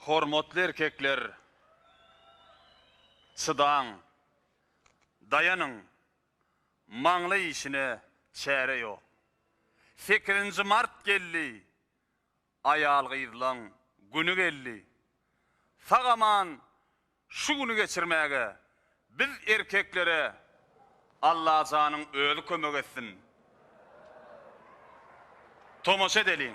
Hormatly erkekler, çydaň, daýanyň, maňlaý işine çäre ýok. Sekizinji mart geldi, aýal-gyzlaň güni geldi. Sag-aman Şu güni geçirmäge biz erkeklere Allajanyň özi kömek etsin. Tomaşa edeliň.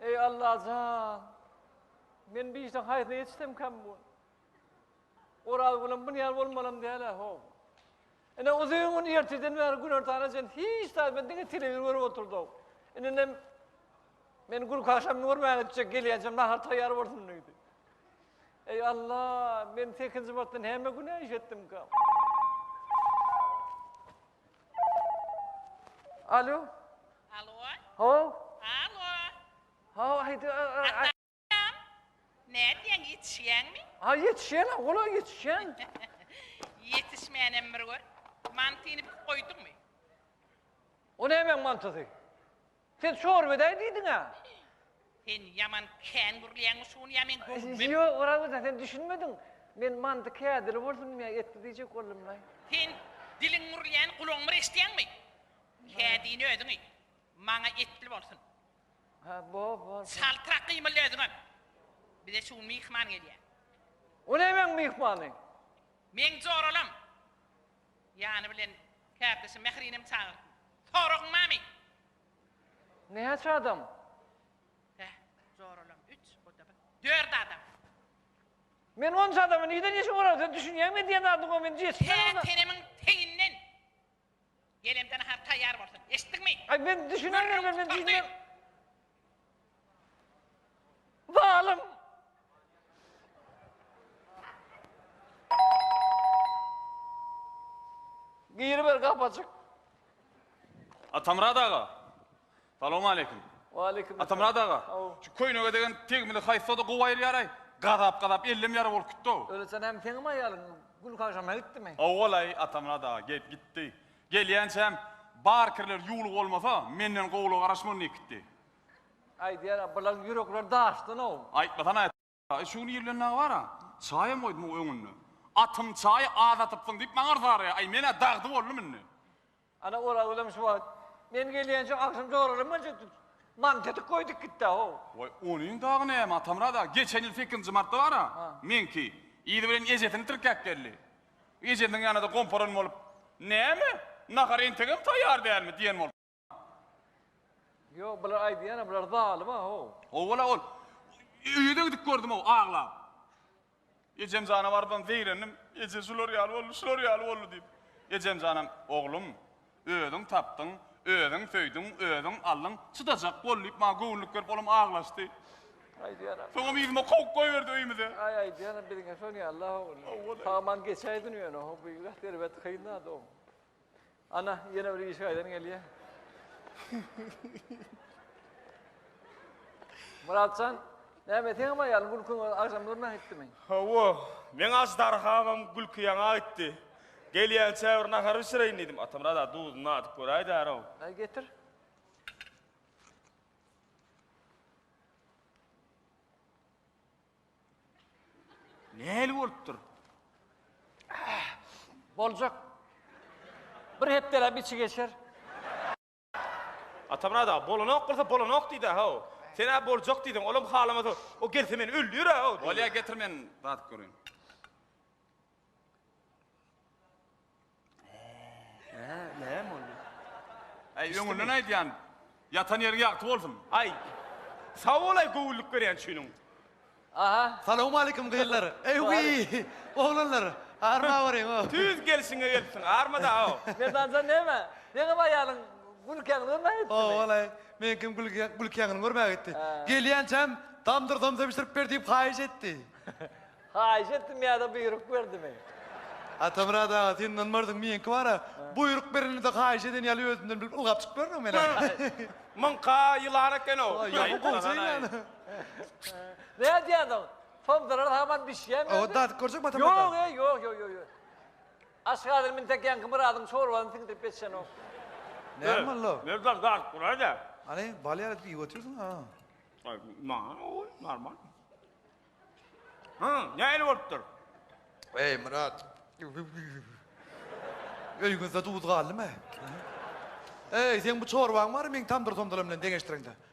Eý Allajan! Men bu işden haýsyna ýetişsemkäm bu? Oraz bilen bu ýer bolmalam däl-ä, ho. Ine uzyn gün erteden bäri günortana çen hiç zat men diňe telewizor görüp oturdym. Indinem men gülki agşamyny görmän gitjek, gelýänçem nahar taýýar bolsun diýdi. Eý Alla, men sekinji martdan hemme günä iş etdimkäm. Alo. Alo. Ho. Alo. Ho, aýdy. Atam. Nädýäň, ýetişýäňmi? Ha, ýetişýän, ola ýetişýän. Ýetişmänem bir gör. Mantyny büküp goýduňmy? O nämeň mantysy? Sen çorba edäýin diýdiň-ä. Sen ýaman kän gürleýäňmi şuny ýa men göwnüme. Ýok Orazmyrat sen düşünmediň. Men mandy kädili bolsun diýmän etli diýjek boldumlaý. Sen diliň gürleýäni gulagyňmy eşidýäňmi? Kädini özüň iý. Maňa etli bolsun. Hä bol bol. Çaltrak gymylda özüňem. Bize şu gün myhman gelýä. O nämeň myhmany? Meň joralam. Ýany bilen kärdeşi Mährinem çagyrtyn. Soragyň barmy? Näçe adam? Bäh, joralam üç, o-da bir. Dört adam. Men onça adamy nirden ýeşip olar? Sen düşünýäňmi edýän zadyňa? Men jeşik Tä adama. tenemiň teginden. Gelemde nahar taýýar bolsun. Eşitdiňmi? Aý, men düşünen Gürrüňi derler, men tutar diýdim. diýdim. Zalym! Giriber gapajyk. Atamyrat aga. Salam aleyküm. Waleyküm. Atamyrat aga. Şu köýnege degen tegmili haýsada gowy aýyrýaraý? Gazap gazap ellem ýara bolup gitdi-ow. Öleçen hem seňem aýalyň gülkaşana gitdimi? Owalaý Atamyrat aga gelip gitdi. Gelýänçäm, Barkerler ýuwluk bolmasa, menden gowula garaşman diýip gitdi. Aýdýar-a, bularyň ýürekleri daşdan-ow. Aýtmasana, çaýy şu gün ir bilen dagy bar-a. Çaýam goýdum o öňünde. Atym, çaýy az atypsyň diýip maňa yrsa araýar. Aý, men-ä dagdy boldum indi. Ana, ol agzam şu wagt, men gelýänçä agşam joralam boljakdy. Mantetik goýdup gitdi-ow. Waý, onuň dagy näme, Atamyrat aga, geçen ýyl sekizinji martda bar-a, meňki, yzy bilen ejesini tirkäp geldi. Ejesiniň ýanyna-da gomparan bolup, Näme, nahar entegem taýýar dälmi? diýen boldy. Ýok, bular aýdýan-a, bular zalym-a-how! Hawa-la ol. Öýe-de gidip gördüm-ow, aglap. Ejem jana bardan zeýrendim. Eje şular ýaly boldy, şular ýaly boldy diýip. Ejem janam, Oglum, Özüň tapdyň, özüň söýdüň, özüň aldyň, çydajak bol, diýip, maňa göwünlik berip, olam aglaşdy. Aýdýan-a. Soňam yzyma kowup goýberdi öýümize. Aý, aýdýan-a, biziňem şol ýaly-la, ogul. Saman geçäýdin ýöne, ho, bu ýigit erbet kyn-a, dogry. Ana, ýene bir işi gaýdan gelýär. Myrat jan, näme, seňem aýalyň gülkiň agşam durna gitdimi? Hawa, meň aždarhamam gülki ýaňa gitdi. Gelýän çäwür nahar bişireýin diýdim. Atamyrat-a duzuny nadyp göräýdär-ow. Aý, getir. Nähili bolupdyr? Boljak. Bir hepdeläp içi geçer. Atamyrat aga, bolanok bolsa bolanok diýdi-ä, haw. Sen-ä boljak diýdiň, olam halamasa, o gelse meni öldürer-ä, haw, diýdi. Bolýa, getir men dadyp göreýin. Nä, näme boldy? Äý, öňünden aýdýan, ýatan ýeriň ýagty bolsun. Aý, sag bol-aý göwünlik berýän üçiniň. Aha. Salowmaleýkim gyzlar. Eý wiý. Oglanlar. Arma baryň o. Tüýs gelşiňe gelipsiň. Armada o. Merdanjan näme? Ýeňňem aýalyň gülkäňi görmäge gitdimi? Hoo walaý. Meňkem gülkäňini görmäge gitdi. Gelýänçäm tamdyr somsa bişirip ber diýip haýyş etdi. Haýyş etdimi ýa-da buýruk berdimi? Atamyrat aga sen ynanmarsyň meňki bar-a, buýruk berende-de haýyş eden ýaly özümden bilip ylgap çykyp ýörün men-ä. Muňka ýylan eken o. Ýaman gowja ýylan. Näme diýýäňiz? Pomidorlar haman bişýämi? Owa, dadyp görjek matam ýok-da. Ýok, eý, ýok, ýok, ýok, ýok. Aşgazyny mintek ýaňky Myradyň çorbasyny siňdirip geçenok. Näme boldy? Merdan, dadyp göräý-dä. Hany, bal ýaly edip iýip otyrsyň, a? Aý, maňa oý, normal. Hä, nähili bolupdyr? Eý, Myrat. Öýüňizde duz galdymy? Eý, seň bu çorbaň bary meň tamdyr-tomdylam bilen deňeşdireňde.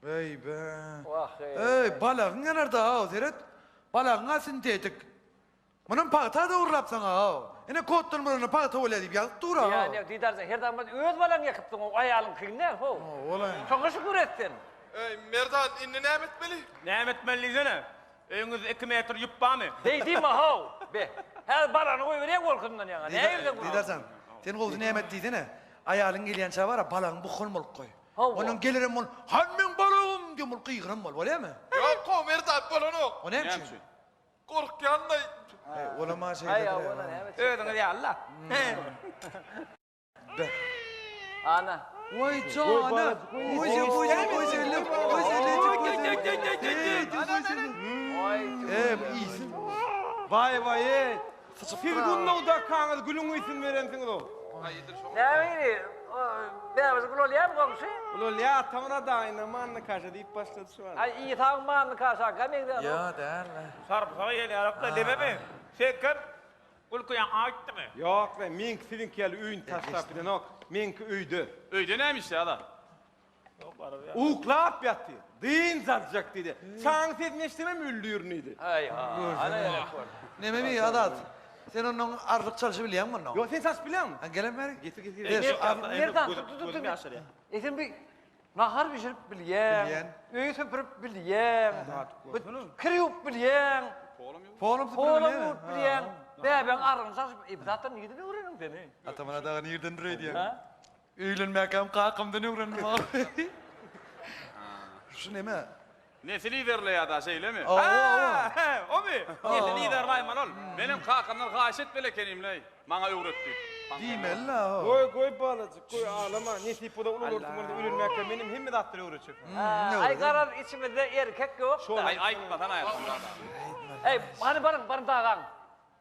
Beýbe. Eý, balagyň geler-de-aw, seret. Balagyň-a sintetik. Munam pagta-da urlapsaň-a-aw. Ine, kotdan buranda pagta bolýar diýip ýazyp dur-a. Ýa, ýa, diýdarjan, her zam bolsa öz balaňy ýekypsyň-ow, aýalyňkyny däl, how. Howalaý. Şoňa şükür et sen. Eý, Merdan, indi näme etmeli? Näme etmeli diýsene. Öýüňizde iki metr ýüp barmy? Beý diýme-how. Be, häzir balagyny goýberýäň bolkasyndan ýaňa. Nägirseň gürrüň. Diýdarjan, sen gowusy näme et diýsene. Aýalyň gelýänçä bar-a, balagyňy buhgan bolup goý. Hawa. Ondan gelerem bol. Han meň balagym! diýen bol gygyran bol. Bolýamy? Ýok, Komer zat bolanok. O näme üçin? Gorkýanlaý. He, olam-a şeýledir-ä. Özüňiz ýaly-la. Be. Ana. Waý jana. Goja, goja, gojalyk, gojalyk, gojalyk. Eý, eý. Waý, waý, eý. Siz Gunnawda kaňyz gülüň üýsün berensiňiz-ow. Nähili, bäbis gül bolýamy goňşy? Bolýa, atamyň adaýyna Manny kaşa diýip başlady şu wagt. Aý, Isaň Manny kaşakä meňzänok. Ýo, däl-le. Sarpysaga gelýärik-de, dememi? Sen kim? Gülki ýaňky aýtdymy? Ýok-le, meňki siziňki ýaly öýüni taşlap gidenok. Meňki öýde. Öýde näme işi, ala? Uklap ýatyr. Dynç aljak diýdi. Çaň sesini eşidemem öldürin diýdi. Aý ha. Ana ýa kör. Neme bi Azat? Sen ondan arlyk çalşy bilýäň mi ondan? Ýok, sen çalşyp bilýäňmi? Ha gelem beri. Getir, getir. Ey, Getir, Merdan, al. Merdan, Göz- tut, tut, tut, gözüm tut. ýaşarýar. E sen bir nahar bişirip bilýäň, Bilýän. öýi süpürip bilýäň, bir kir ýuwup bilýäň, Polam ýok. Polum süpürip polam bilýäň. ýuwup bilýäň, bäbäň arrygyny çalşyp, e bu zatlar nirden öwreniň sen? e? Atamana dagy nirden dureýdýäň? Ha? Öýlenmäkäm kakamdan öwrendim agam. Şu neme? Nesil iderleýär da şeýlemi? Awa, awa. He, omy? Nesil iderlaýman ol. Menem kakamdan haýyş et belekenimleý, maňa öwret diýip. Diýmeli-le, awa. Goý, goý balajyk, goý, aglama. Nesip bolsa ulular tumanda öýlenmäkäm menem hemme zatlary öwretjekmi? Aý, garaz, içimizde erkek ýok-da. Aý, aýtmasan aýtsyn, dada. Aý, hany baryň, baryň dagaň.